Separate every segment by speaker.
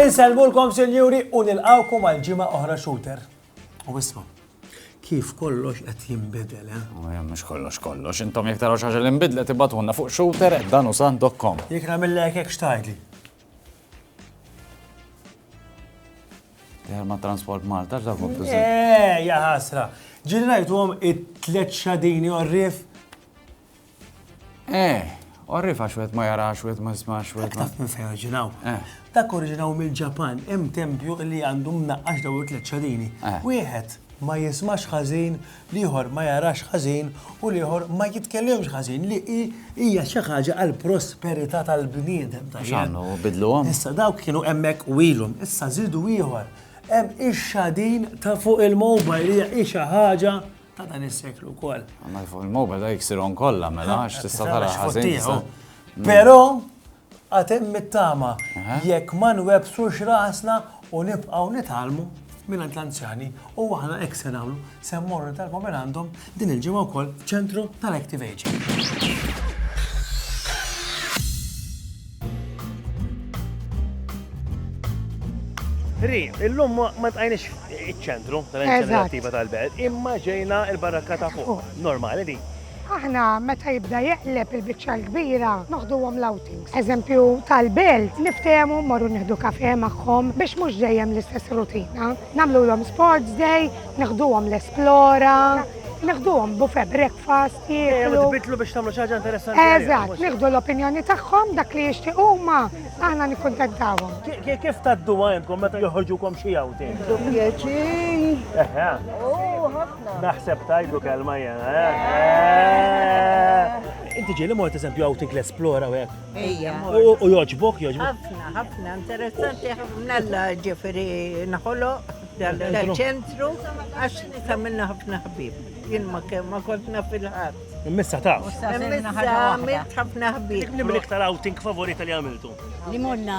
Speaker 1: Inselmulkom sinjuri u nilqawkom għal ġimgħa oħra shooter. U isma' kif kollox qed jinbidel, eh? Mhux kollox kollox, intom jekk taraw xi ħaġa li nbidlet ibatulna fuq shooter dan u sandokkom. Jekk nagħmillek hekk xtajdli. ma Transport Malta, x'dak kontu Eh, ja ħasra. Ġiri rajtu għom it-tlet xadini orrif? Eh, orrif għax wet ma jarax, wet ma jismax, wet ma. Taf minn fejn oriġinaw. Eh. Dak oriġinaw mill-Ġapan, hemm tempju li għandu mnaqqax daw it-tlet xadini. Eh. Wieħed ma jismax ħażin l-ieħor ma jarax ħażin u l-ieħor ma jitkellimx ħażin li hi hija xi ħaġa għall-prosperità tal-bniedem. Mhux għandna u bidluhom. Issa dawk kienu hemmhekk u ilhom, issa żidu ieħor. Hemm ix-xadin ta' fuq il-mobile li hi xi ħaġa ta' dan is-seklu wkoll. Għandna fuq il-mobile dak iksirhom kollha mela għax tista' tara ħażin. Però Għad hemm it-tama jekk ma nwebsux rasna u nibqgħu nitgħallmu mingħand l-anzjani u aħna hekk se nagħmlu, se mmorru nitalmu minn għandhom din il-ġimgħa wkoll f'Ċentru tal-Active Ageing. Ri, illum ma tqajniex iċ-ċentru tal-inizjattiva tal-belt, imma ġejna il-barakka ta' fuq. Normali di. Aħna meta jibda jeqleb il-biċċa l-kbira noħduhom l-outings. Eżempju tal-belt, niftehmu mmorru nieħdu kafè magħhom biex mhux dejjem l-istess rutina. Nagħmlulhom sports day, neħduhom l-esplora, neħduhom buffet breakfast, jieklu. Tbiddlu biex tagħmlu xi ħaġa interessanti. Eżatt, nieħdu l-opinjoni tagħhom dak li jixtiequ huma, aħna nikkuntentawhom. Kif tgħadduha intkom meta joħorġukom xi outing? Bi pjaċir. Naħseb tajdu kelma jena, eh? eh. Inti ġili mort eżempju outing l-esplora u għek. Ija. U joġbok, joġbok. Ħafna, ħafna, interessanti ħafna l ġifiri naħolo dal-ċentru, għax tamilna ħafna ħbib. Jien ma kemm ma kontna fil-ħadd. Immissa ta' Immissa għamilt ħafna ħbib. Nibli iktar outing favorita li għamiltu. Li morna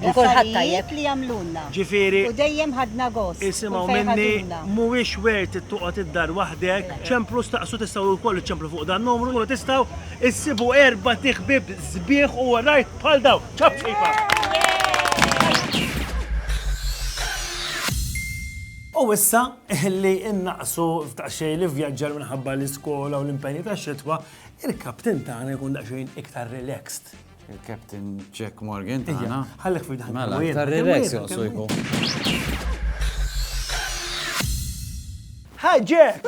Speaker 1: u kulħadd tajjeb li għamlulna, u dejjem ħadna gost kull fejn ħaduna. Mhuwiex wert toqgħod id-dar waħdek. Ċemplu staqsu tistgħu wkoll iċċemplu fuq dan numru tkunu tistgħu issibu erbat iħbieb sbieħ u għarajr bħal dawn. Ċapp ħejfa! U issa li innaqsu f'daqsxejn l-ivvjaġġar minħabba l-iskola u l-impenji tax-xitwa, il-kapten tagħna jkun daqsxejn iktar relaxed. Il-Captain Jack Morgan tagħna. Ħallek fil daħna. Mela, tar-relax joqsu jkun. Hi Jack!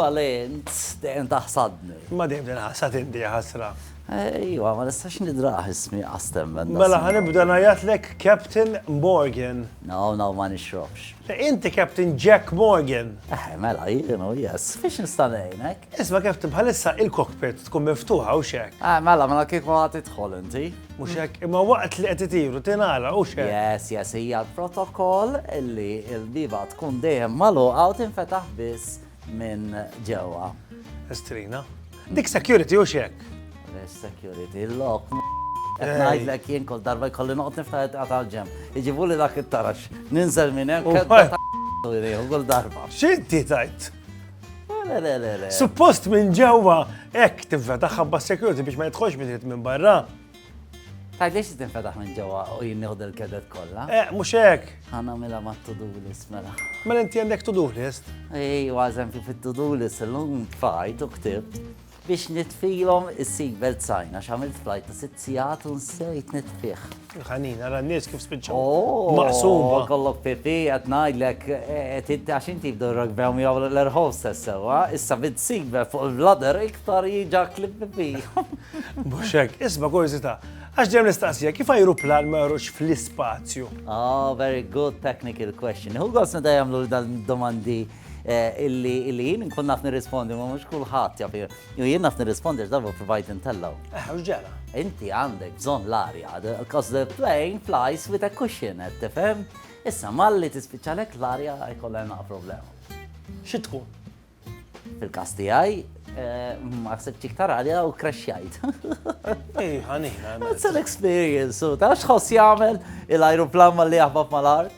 Speaker 1: Valent, dejjem taħsadni. Ma dejjem din ħassat inti ħasra. Ejwa, ma nistax nidraħ ismi għastemmen. Mela ħanibda najatlek Captain Morgan. No, no, ma nixrobx. Inti Captain Jack Morgan. Eh, mela, jienu, yes. Fiex nistanejnek? Isma' Captain bħalissa il-cockpit tkun miftuħa hux hekk? Ah, mela, mela kieku għad tidħol inti. Mhux hekk, imma waqt li qed itiru tingħala hux hekk? Yes, yes, hija l-protokoll li l-biba tkun dejjem magħluqa u tinfetaħ biss minn ġewwa. Estrina. Dik security hux hekk? Res security, l-lok. Qed ngħidlek jien kol darba jkolli noqgħod niftaħet għatal ġem. Iġibu li dak it-tarax. Ninżel minn hemm. Kull darba. X'inti tajt? Suppost minn ġewwa hekk tinfetaħ ħabba security biex ma jidħolx biżiet minn barra. Tajt lix tinfetaħ minn ġewwa u jien nieħdu l-kedet kollha. Eh, mhux hekk. Ħana mela ma to-do list mela. Mela inti għandek to-do list? Ej, għażem kif it-to-do list illum fajt u ktibt. Biex nitfihom is-seat belt sign għax għamilt flight ta' sitt sigħat u nsejt nitfih. Ħanin, ara n-nies kif spiċċaw. Oh, Maqsuma. Kollok pipi qed ngħidlek qed inti għax inti f'dorrok b'hemm jew l-air hostess sewwa, issa bid seat belt fuq il-bladder iktar jiġak li pipi. Mhux hekk, isma' kurżità. Għax ġem nistaqsija, kif ajruplan ma jorux fl-ispazju? Oh, very good technical question. Hu għosna da jamlu l-domandi illi jien nkun naf nirrispondi, ma mhux kulħadd jaf. Jien naf nirrispondi għax darba provajt intellgħu. Eh, u ġara. Inti għandek bżonn l-arja, because the plane flies with a cushion, qed tifhem? Issa malli tispiċċalek l-arja jkollha naqa' problema. Xi tkun? Fil-każ tiegħi, eh, ma ħsibx iktar għalja u crashjajt. Ej, ħanina. It's an experience, u ta' xħoss jagħmel il-ajruplan malli jaħbab mal-art.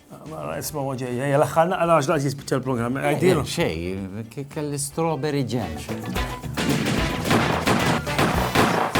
Speaker 1: Mara, isma u ġej, ej, l-axħar naqra għax laqt jispiċċa l-programm. Għajdilu. Xej, kelli strawberry jam.